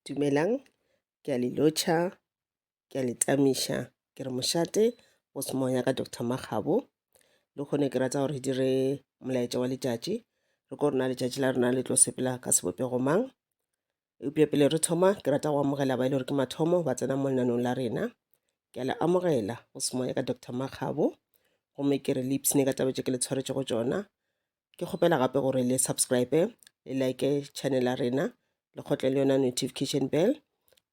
Dumelang, ke a le lotšha, ke a le tamiša. Ke re mošate go se moya ka Doctor Makgabo. Le kgone ke rata gore re dire molaetša wa letšatši. Re ko rena letšatši la rena le tlo sepela ka sebopego mang. Eupša pele re thoma, ke rata go amogela ba e le gore ke mathomo ba tsena mo lenanong la rena. Ke a le amogela go se moya ka Doctor Makgabo. Gomme ke re le ipshine ka taba tše ke le tshwaretšego tšona. ke kgopela gape gore le subscribe le like channel ya rena le kgotle le yona notification bell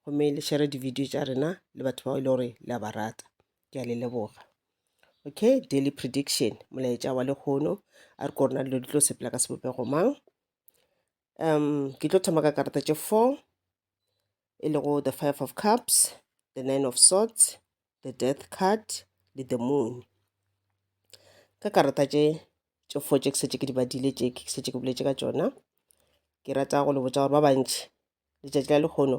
gomme le share di-video tša rena le batho bao e le gore le a ba rata ke a le leboga okay daily prediction molaetša wa lekgono a re korona dilo di tlo sepela ka sebopego mang um ke tlo thoma ka karata tše four e lego the five of cups the nine of swords the death card le the moon ka karata tše tše four tše ke setse ke di badile tše ke setse ke boletse ka tšona ke rata go le botsa gore ba bantši letšatši la lekgono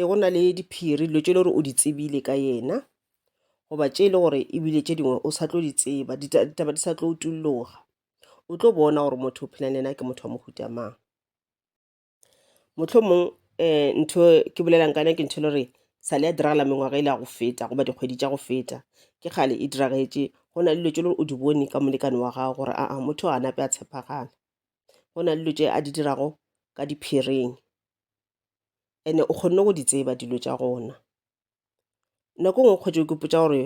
e go na le diphiri dilo tše le gore o di tsebile ka yena goba tše e le gore ebile tše dingwe o sa tlo di tseba ditaba di sa tlo utulloga o tlo bona gore motho o phela le yena ke motho wa mohuta mang motlho mongwe um ntho ke bolelang ka yone ke ntho e le gore sa le ya diragala mengwaga e le ya go feta goba dikgwedi tša go feta ke kgale e diragetše go na le dilo tše le gore o di bone ka molekane wa gago gore aa motho a nape a tshepagala go na le dilo tše a di dirago ka diphiring ene o kgonne go di tseba dilo tša gona nako ngwe kgotse o kepotsa gore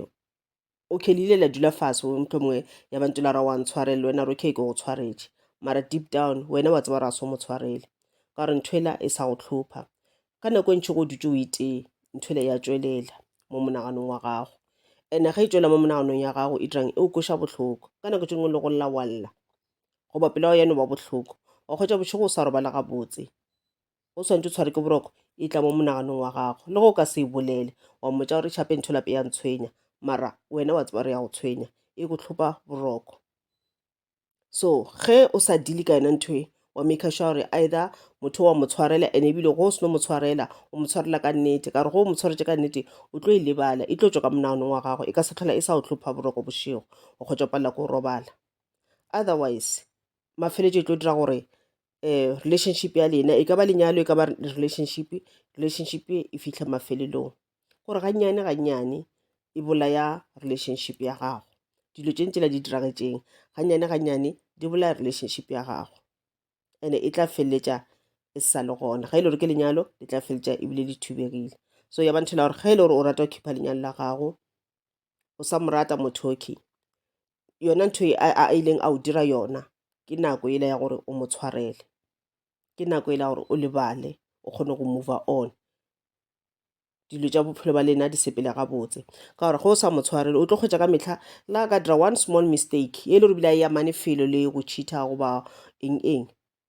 okay le ile la dula fase motho mongwe ya bantse la ra wa ntshwarele wena re okay ke go tshwaretše mara deep down wena wa tseba ra so mo tshwarele ka gore ntho ela e sa go tlhopha ka nako e ntšhi go dutse o itee ntho ele ya tswelela mo monaganong wa gago ene ge e tswela mo monaganong ya gago e dirang e o koša bohloko ka nako tše dingwe le go lla walla goba pelo ya yeno ba bohloko wa kgwetša bošego o sa robala gabotse o swantse o tshware ke boroko e tla mo monaganong wa gago le go ka se e bolele wa mmotsa gore tšhape ntho lape ya ntshwenya mara wena wa tseba gore ya go tshwenya e go tlhopa boroko so ge o sa dile ka yona ntho e wa make sure gore either motho wa mo tshwarela ene ebile go o seno mo tshwarela o mo tshwarela ka nnete ka gore go o mo tshwaretse ka nnete o tlo e lebala e tlo tswa ka monaganong wa gago e ka se tlhola e sa o tlhopha boroko bošego o kgotsa palela ko robala otherwise mafeletšo e tlo dira gore um relationship ya lena e ka ba lenyalo e ka ba relationship, relationship e fihle mafelelong gore gannyane gannyane e bolaya relationship ya gago. Dilo tše ntši la di diragatšeng gannyane gannyane di bolaya relationship ya gago and-e e tla feleletša e sa le gona, ge e le gore ke lenyalo le tla feleletša ebile le thubegile. So ya ba nthwela gore ge e le gore o rata go khipha lenyalo la gago o sa mo rata motho okay yona ntho e a a ileng a o dira yona ke nako ele ya gore o mo tshwarele ke nako ele ya gore o lebale o kgone go move on dilo tša bophelo ba lena di sepele gabotse ka gore ge o sa mo tshwarele o tlo kgwetša ka mehla la ka dira one small mistake e le gore bile a eya mane felo le go cheater goba eng eng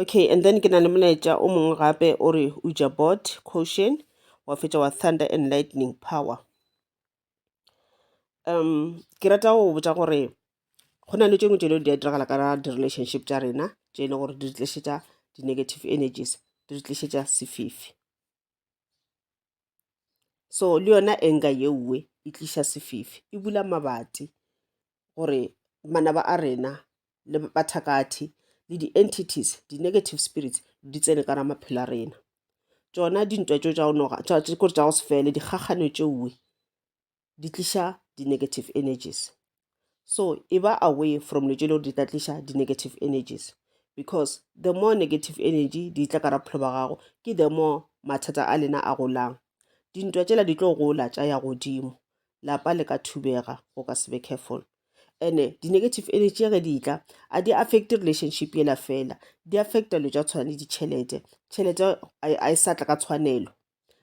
okay and then ke na le molaetša o mongwe gape o re uja bot quotient wa fetša wa thunder and lightning power um ke rata go botša gore go na le tše ngwe tše di a diragala ka di-relationship tša rena tše e le gore di re tlišetša di-negative energies di re tlišetša sefifi so le yona enga yeuwe e tliša sefifi e bula mabati gore manaba a rena le bathakathi le di-entities di-negative spirits di tsene ka ra maphelo a rena tšona dintwa tšo tša go noga kore tša go se fele dikgakgano tšeoe di tliša di-negative energies so e ba away from le tše le gore di tla tliša di-negative energies because the more negative energy di tla ka ra bophelo ba gago ke the more mathata a lena a golang dintwa tšela di tlo gola tša ya godimo lapa le ka thubega go ka se be careful ene di-negative energy ge di tla a di affect relationship yela fela di affecta lo tša tshwana le ditšhelete tšhelete a e sa tla ka tshwanelo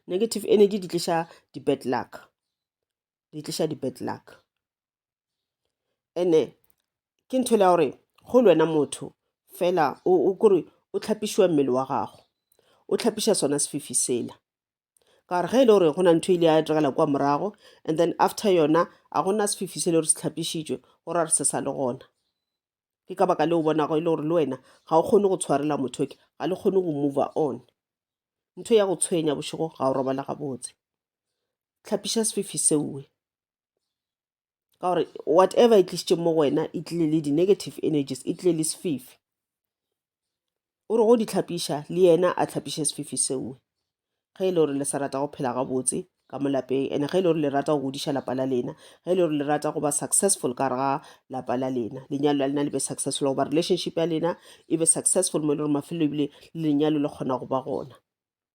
negative energy di tliša di-bad luck di tliša di-bad luck ene ke ntho le ya gore go le wena motho fela o kore o tlhapišiwa mmele wa gago o tlhapiša sona sefifi sela ka gore ge e le gore go na ntho e ile ya diragala kwa morago and then after yona a gona sefifi se le gore se tlhapišitšwe go ra re se sa le gona ke ka baka le o bonago e le gore le wena ga o kgone go tshwarela motho ke ga le kgone go move on ntho ya go tshwenya bošego ga o robala gabotse tlhapiša sefifi seoe ka gore whatever e tlisitše mo go wena e tlile le di-negative energies e tlile le sefifi o re go di tlhapiša le yena a tlhapiše sefifi sengwe ge e le gore le sa rata go phela gabotse ka mo lapeng and ge e le gore le rata go godiša lapa la lena ge e le gore le rata go ba successful ka rega lapa la lena lenyalo la lena le be successful goba relationship ya lena e be successful mo e le gore mafelo ebile lenyalo le kgona go ba gona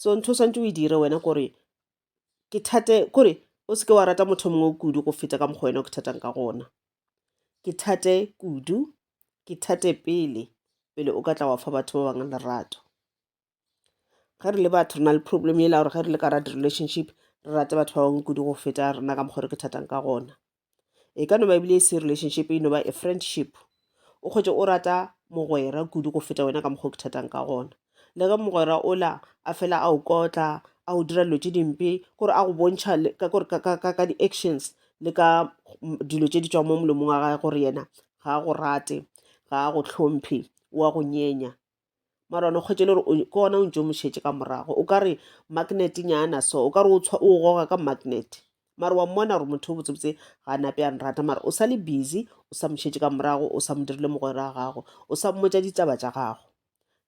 so ntho o swantse o e dire wena kore ke thate kore o seke wa rata motho mongwe o kudu go feta ka mokgwa wena o ke thatang ka gona ke thate kudu ke thate pele pele o ka tla wa fa batho ba bangwe lerato ge re le batho re na le problem ela gore ge re le ka rata relationship re rate batho ba bangwe kudu go feta rena ka mokgwa re ke thatang ka gona e ka no ba ebile e se relationship e no ba a friendship o kgwetše o rata mogwera kudu go feta wena ka mokgwa o ke thatang ka gona le ge mogwera ola a fela a o kotla a o dira dilo tše dimpe gore a go bontšha ka di-actions le ka dilo tše di tswang mo molomong wa gage gore yena ga a go rate ga a go tlhomphe o a go nyenya mara one kgwetše le gore ke ona o ntse o mošetše ka morago o ka re magnet nyana so o ka re o goga ka magnet mara wa mmona gore motho o botsebotse ga a nape a nrata mara o sa le busy o sa mošetše ka morago o sa mo dirile mogwera ga gago o sa mmotsa ditaba tša gago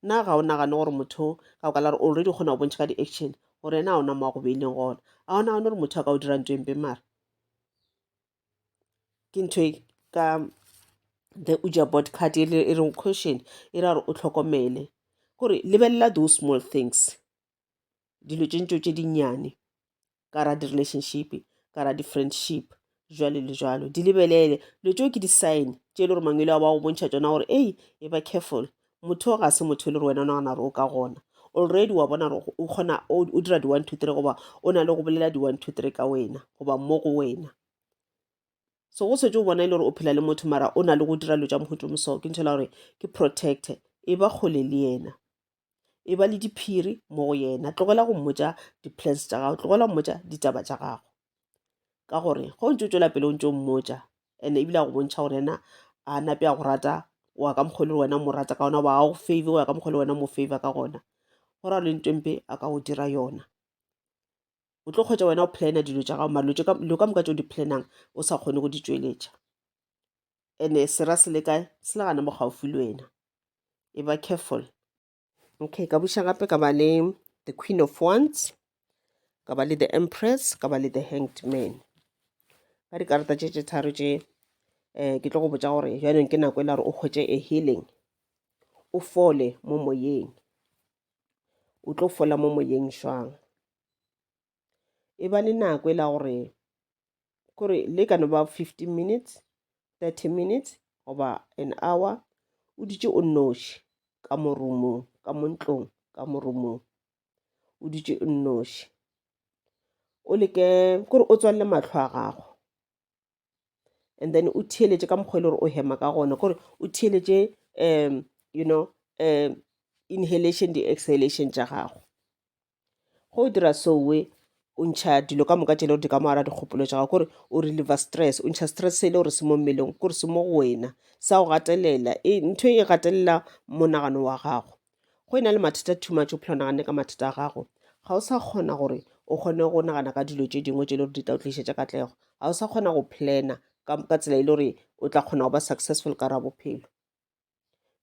nna ga o nagane gore motho ka o ka la gore already kgona go bontšha ka di-action gore ena a ona mo a go beileng gona a o nagane gore motho a ka o dira nto empe mara ke ntho e ka the uja board card e reng question e ra gore o tlhokomele gore lebelela those small things dilo tše ntšo tše dinnyane ka ra di-relationship ka ra di-friendship jwalo le jwalo di lebelele dilo tšeo ke di-sign tše e le gore mangwele a ba go bontšha tsona gore ei e ba careful motho ga se motho e le gore wena o nagana gore o ka gona already wa bona gore o kgona o dira di-one two three goba o na le go bolela di-one two three ka wena goba mo go wena so go setse o bona e le gore o phela le motho mara o na le go dira lo tša mohuto moso ke ntšhela gore ke protecte e ba kgole le yena e ba le diphiri mo go yena tlogela go mmotsa di-plans tša gago tlogela go mmotsa ditaba tša gago ka gore go ntse o tswela pele o ntse o mmotsa and ebile a go bontšha gore ena a nape a go rata o ya ka mokgwa le wena mo rata ka gona ba go favor o ya ka mokgwa le wena mo favor ka gona go ra le ntempe a ka go dira yona o tlo kgwetsa wena o plana dilo tša gago malotse dilo ka moka tse o di planang o sa kgone go di tšweletša and-e sera se le kae se le gana mo gaufi le wena e ba careful okay ka buša gape ka ba le the queen of wands ka ba le the empress ka ba le the hanged man ka dikarata tše tše tharo tše um ke tlo go botsa gore jaanong ke nako e la gore o kgwetse a healing o fole mo moyeng o tlo fola mo moyeng jwang e ba le nako e la gore kore le ka no ba 15 minutes 30 minutes goba an hour o dutše o nnoši ka morumong ka montlong ka morumong o dutše o nnoši o leke kore o tswalle mahlo a gago and then o theeletše ka mokgwa e le gore o hema ka gona gore o theeletše um you know um inhalation di exhalation tša gago go o dira sowe o ntšha dilo ka moka tšele gore di ka mo ara dikgopolo tša gago gore o reliver stress o ntšha stress se e le gore se mo mmeleng gore se mo go wena sa go gatelela e, ntho e gatelela monagano wa gago go e na le mathata too much o phela naganne ka mathata a gago ga o sa kgona gore o kgone go nagana ka dilo tše dingwe tše le gore di tla o tlišetša katlego ga o sa kgona go plana ka tsela e le gore o tla kgona go ba successful ka ra bophelo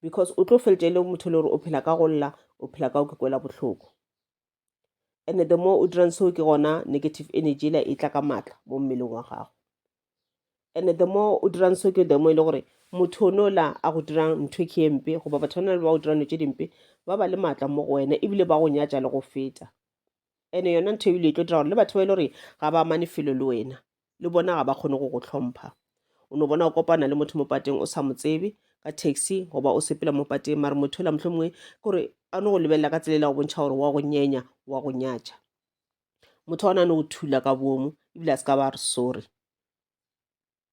because o tlo feletša e le motho le gore o phela ka go lla o phela ka o ke kwela bohloko and the more o dirang seo ke gona negative energy ela e tla ka maatla mo mmeleng wa gago and the more o dirang seo ke the more e le gore motho o nola a go dirang ntho ke e mpe goba batho ba le ba go dirang tse dimpe ba ba le maatla mo go wena ebile ba go nyatša le go feta and yona ntho ebile e tlo dira gore le batho ba e le gore ga ba amane felo le wena le bona ga ba kgone go go hlompha o no bona o kopana le motho mo pateng o sa mo tsebe ka taxi goba o sepela mo pateng mare motho la mohlomongwe kore a no go lebelela ka tselela go bontšha gore wa go nyenya wa go nyatša motho ona no go thula ka bomo ebile a se ka ba re sorry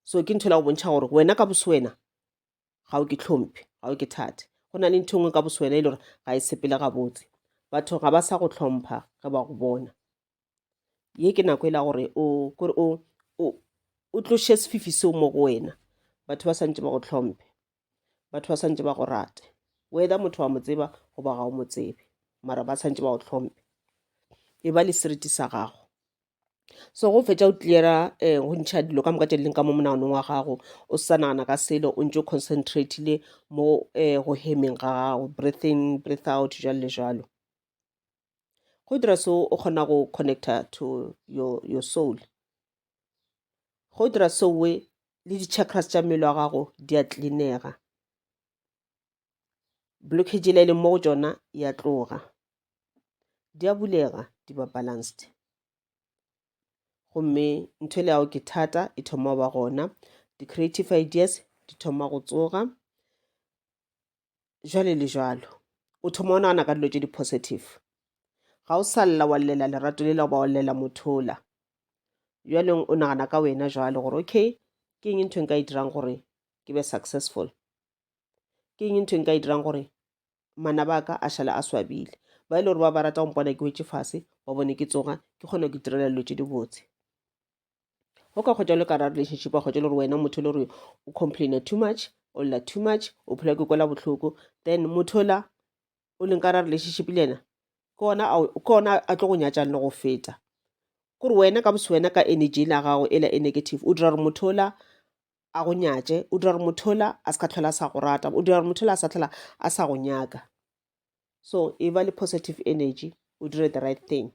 so ke ntho la go bontšha gore wena ka boso wena ga o ke tlhomphe ga o ke thate go na le ntho e nngwe ka boso wena e le gore ga e sepele gabotse batho ga ba sa go tlhompha ge ba go bona ye ke nako e la gore o kore o o tloše sefifi seo mo go wena batho ba swantse ba go tlhomphe batho ba swantse ba go rate whether motho wa mo tseba goba ga o mo tsebe mara ba swantse ba go tlhomphe e ba le seriti sa gago so go fetša o cleara um go ntšha dilo ka moka tše leng ka mo monaganong wa gago o sa nagana ka selo o ntse o concentratile mo um go hemeng ga gago breathing breath out jalo le jalo go dira so o kgona go connecta to your, your soul go dira so we le di-chakras tša mmele wa gago di a tlinega blockage e leng mo go tšona ya tloga di a bulega di ba balanced gomme ntho e le yago ke thata e thoma go ba gona di-creative ideas di thoma go tsoga jwale le jwalo o thoma o nagana ka dilo tše di-positive ga o sa lla wa llela lerato le la goba wa llela mothola bjaleng o nagana ka wena jwalo gore okay ke eng ntho e nka e dirang gore ke be successful ke eng ntho e nka e dirang gore mana ba ka a šala a swabile ba e le gore ba ba rata go mpona ke wetse fase ba bone ke tsoga ke kgone go itirela dilo tše dibotse o ka kgwetša le ka ra relationship wa kgwetša le gore wena motho le gore o complaina too much o lla too much o phela ke kwela bohloko then motho la o leng ka ra relationship le yena ke ona a tlo go nyatšang le go feta kore wena ka bose wena ka energy la gago e la e negative o dira gore motho la a go nyatše o dira gore motho la a se ka tlhola a sa go rata o dira gore motho la a sa tlhola a sa go nyaka so e ba le positive energy o dire the right thing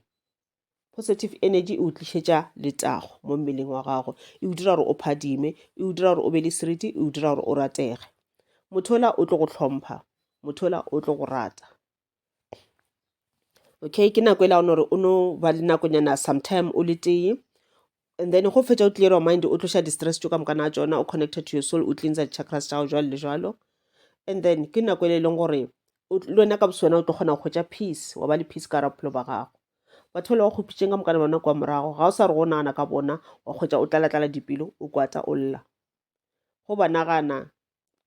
positive energy e o tlišetša letago mo mmeleng wa gago e o dira gore o phadime e o dira gore o be le seriti e o dira gore o ratege motho ola o tlo go tlhompha motho ola o tlo go rata okay ke nako e la gore o no ba le nakonyana sometime o le tee And then go fetša o clear your mind o tloša di-stress tšo ka moka na tšona o connected to your soul o cleansa di-chakras tša go jwalo le jwalo and then ke nako ele e leng gore o tl- le wena ka boswena o tlo kgona go hwetša peace wa ba le peace ka ra bophelo ba gago batho ba le ba kgopitšeng ka mokana bona kwa morago ga o sa re go nagana ka bona wa hwetša o tlalatlala dipelo o kwata o lla go ba nagana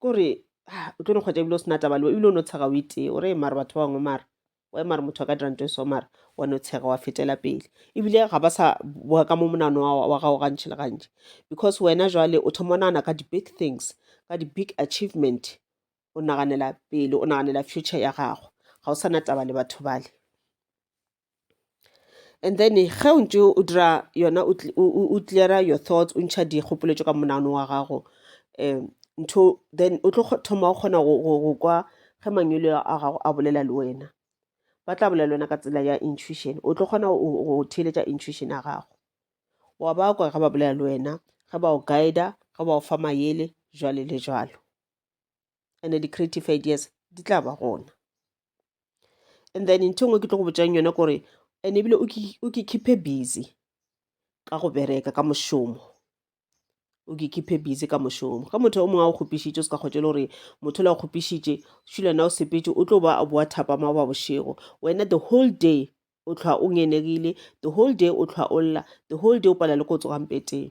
kore ah, o tlo no kgwetša ebile o sena taba le ebile o no tshega o itee o re mare batho ba bangwe mare wa mare motho a ka dira nto e so mare wa no tshega wa fetela pele ebile ga ba sa boa ka mo monano wa gago gantšhi le gantši because wena jwale o thoma o nagana ka di-big things ka di-big achievement o naganela pele o naganela future ya gago ga o sa na taba le batho bale And then ge o ntše o dira yona o clear-a your thoughts o ntšha dikgopolo tše ka monaganong wa gago um ntho then o tlo thoma o kgona go kwa ge mangwele a gago a bolela le wena. Ba tla bolela le wena ka tsela ya intuition, o tlo kgona go theeletša intuition ya gago. Wa ba kwa ge ba bolela le wena, ge ba go guide-a, ge ba go fa mayele, jwalo le jwalo. and the creative ideas di tla ba gona and then ntho engwe ke tlo go botsang yone kore and ebile o ke khiphe busy ka go bereka ka mošomo o ke khiphe busy ka mošomo ka motho o mongwe a o kgopišitše o se ka kgotse le gore motho le a kgopišitše šulana o sepetse o tlo ba a boa thapama o ba bošego wena the whole day o tlhwa o ngenegile the whole day o tlhwa o lla the whole day o pala le ko o tsogampeteng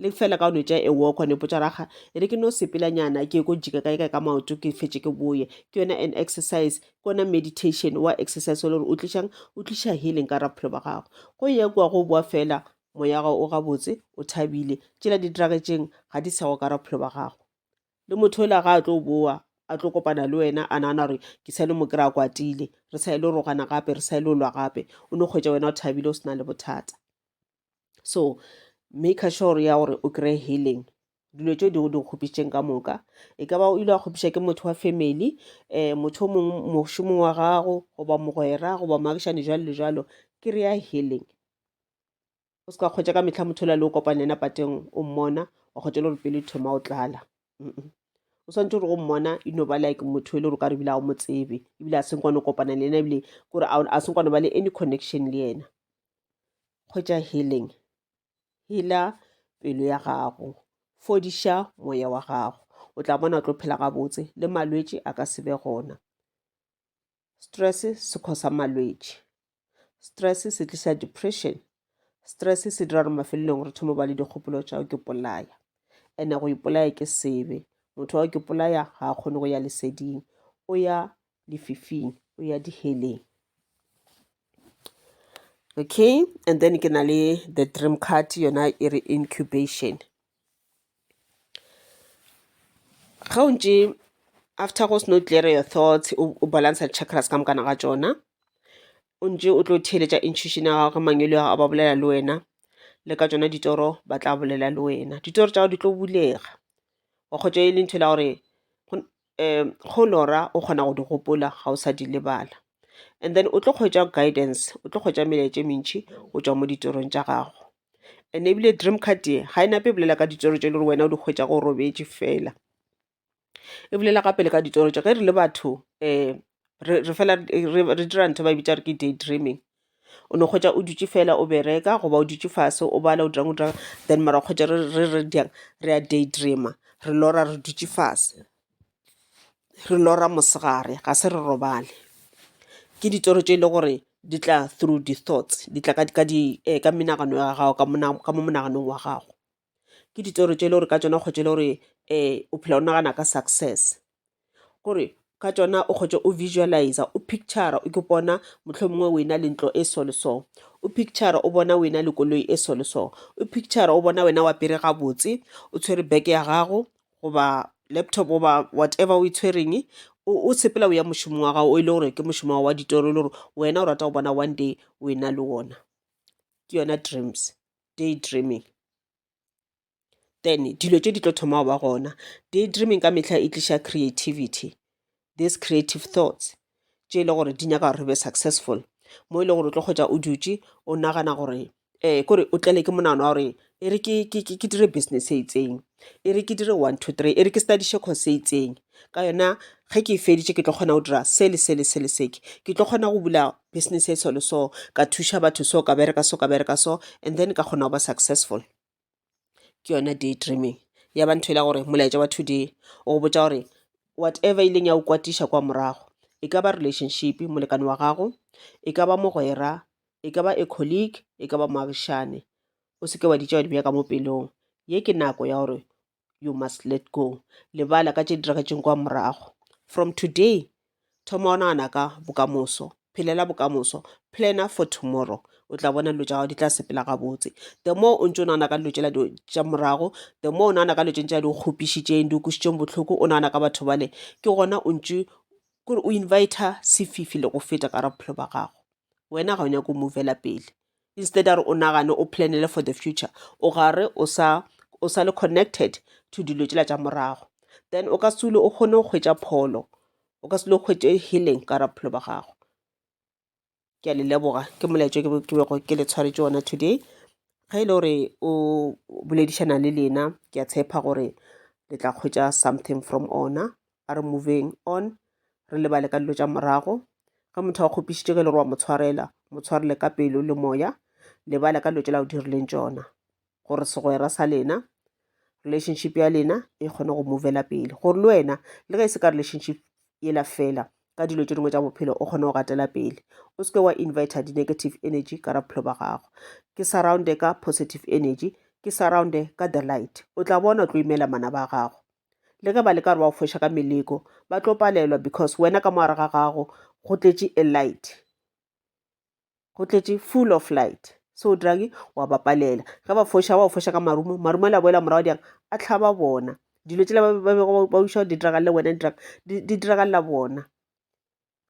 le fela ka onetša e walk one potša raga e re ke no sepelanyana ke ko jika kae kae ka maoto ke fetše ke boye ke yona an exercise ke yona meditation wa exercise wa le gore o tlišang o tliša healing ka raphelo ba gago go ye kwa go boa fela moya gago o gabotse o thabile tšela di dragetšeng ga di sego ka raphelo ba gago le motho ela ga a tlo boa a tlo kopana le wena a nagana gore ke sa le mo kry-a kwatile re sa e le rogana gape re sa e le olwa gape o no kgwetsa wena o thabile o se na le bothata so maker sure ya gore o kry healing dilo tšeo di go di kgopišitšeng ka moka e ka ba o ile wa kgopiša ke motho wa family um motho o mongwe mošomong wa gago goba mogwera goba moagišane jalo le jalo ke re ya healing o se ka kgwetša ka metlha motho o la le o kopane yena pateng o mmona wa kgwetša le gore pele thoma o tlala o swantse gore go mmona e no ba like motho e le gore o ka re ebile ga o mo tsebe ebile a seng kwane o kopana le yena ebile kore a seng kwane ba le any connection le yena kgotša healing healer pelo ya gago fodiša moya wa gago o tla bona o tlo phela gabotse le malwetši a ka se be gona stress se khosa malwetši stress se tlisa depression stress se dira gore mafelelong re thoma ba le dikgopolo tša ke polaya ene go ipolaya ke sebe motho wa ke polaya ga a kgone go ya leseding o ya lefifing o ya diheleng okay and then ke na le the dream card yona e re incubation ga o ntše after go seno clear your thoughts o balance chakras ka mokana ga tsona o ntše o tlo theeletša intuition ya gago ge mangwelo ya gago ba bolela le wena le ka tsona ditoro ba tla bolela le wena ditoro tša gago di tlo bulega wa kgotša e le ntho la gore um go lora o kgona go di gopola ga o sa di lebala. And then o tlo kgwetša guidance, o tlo kgwetša melaetša e mentši go tšwa mo ditšorong tša gago. And ebile dream card ye ga e nape e bolela ka ditšoro tše e le gore wena o di kgwetša go robetše fela e bolela gape le ka ditoro tša ge re le batho um re fela re dira ntho e ba e bitša gore ke day dreaming. O no hwetša o dutše fela o bereka goba o dutše fase o bala o dira'ng o dira'ng then mara o hwetša re re re dira'ng re a day dreamer re lora re dutše fase, re lora mosegare ga se re robale. Ke ditoro tše e le gore di tla through di thoughts di tla ka di ka di ka menagano ya gago ka mo monaganong wa gago. ke ditoro tše e le gore ka tšona o kgotše le gore um o phela o nagana ka success kore ka tšona o kgotše o visualise o picture o ke bona mohlomongwe o ena le ntlo e so le so o picture o bona o ena le koloi e so le so o picture o bona wena wa pere gabotse o tshwere beke ya gago goba laptop goba whatever o e tshwereng o sepela o ya mošomong wa gago o e le gore ke mošomo wa ditoro e le gore wena o rata go bona one day o ena le wona ke yona dreams day dreaming then dilo tše di tlo thoma go ba gona day dreaming ka mehla e tliša creativity this creative thoughts tše e le gore di nyaka gore re be successful mo e le gore o tlo kgwetsa o dutše o nagana gore um kore o tlele ke monagano wa gore e re ke dire business e itseng e re ke dire one two three e re ke studiše course e itseng ka yona ge ke e feditše ke tlo kgona go dira se le se le se le seke ke tlo kgona go bula business e solo so ka thuša batho so ka bereka so ka bereka so and then ka kgona go ba successful ke yona day dreaming ya ba ntho e la gore molaetša wa today o botsa gore whatever e leng ya o kwatiša kwa morago e ka ba relationship molekane wa gago e ka ba mogwera e ka ba a colleague e ka ba moagišane O se ke wa di tšewa di bja ka mo pelong. Ye ke nako ya gore you must let go. Lebala ka tše di diragetseng kwa morago. From today, thoma o nagana ka bokamoso. Phelela bokamoso. Planna for tomorrow. O tla bona dilo tša gago di tla sepela gabotse. The more o ntse o nagana ka dilo tšela tša morago, the more o nagana ka dilo tše ntša di kgopišitšeng, di kwisitseng bohloko, o nagana ka batho bale, ke gona o ntse kore o invita sefifi le go feta ka ra bophelo ba gago. Wena ga o nyake go movela pele. instead a re o nagane o planele for the future o gare o sa o sa le connected to dilo tšela tša morago then o ka se o kgone go hwetša pholo o ka se le hwetše healing ka ra bophelo ba gago ke a le leboga ke molaetšo ke bego ke le tshwaretše ona today ge e le gore o boledišana le lena ke a tshepa gore le tla hwetša something from ona a re moveng on re lebale ka dilo tša morago ge motho a kgopišitše ge le gore wa mo tshwarela mo tshwarele ka pelo le moya lebale ka dilo tšela o dirileng tšona gore segwera sa lena relationship ya lena e kgone go movela pele gore le wena le ge e se ka relationship yela fela ka dilo tše dingwe tša bophelo o kgone go gatela pele o seke wa inviter di-negative energy ka ra bophelo ba gago ke surrounde ka positive energy ke surrounde ka the light o tla bona o tlo imela mana ba gago le ge ba leka gore ba go foša ka meleko ba tlo palelwa because wena ka moare ga gago go tletše a light go tletše full of light so dragi wa ba palela ge ba foša ba go foša ka marumo marumo la boela morago diang a tlhaba bona dilo tsela ba bego ba uša di diragalela wena di diragalela bona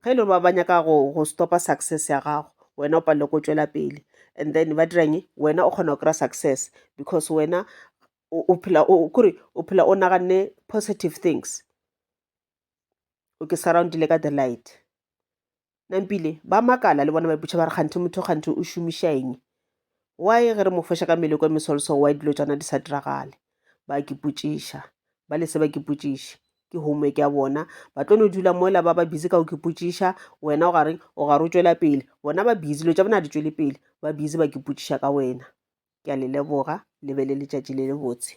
ge e le gore ba ba nyaka go go stop-a success ya gago wena o palelwe ke go tšwela pele and then ba dira eng wena o kgona go kry-a success because wena o o phela o kore o phela o naganne positive things o ke surround-ile ka the light. Nampile ba makala le bona ba ipotšiša ba re kganthe motho kganthe o šomiša eng. Why ge re mo foša ka meleko e mesolso why dilo tšana di sa diragale? Ba ke potšiša. Ba le se ba ke potšiše. Ke homework ya bona. Ba tlo no dula mola ba ba busy ka go ke potšiša. Wena o gareng o gare o tšwela pele. Bona ba busy dilo tša bona di tšwele pele. Ba busy ba ke potšiša ka wena. Ke a le leboga le be le letšatši le le botse.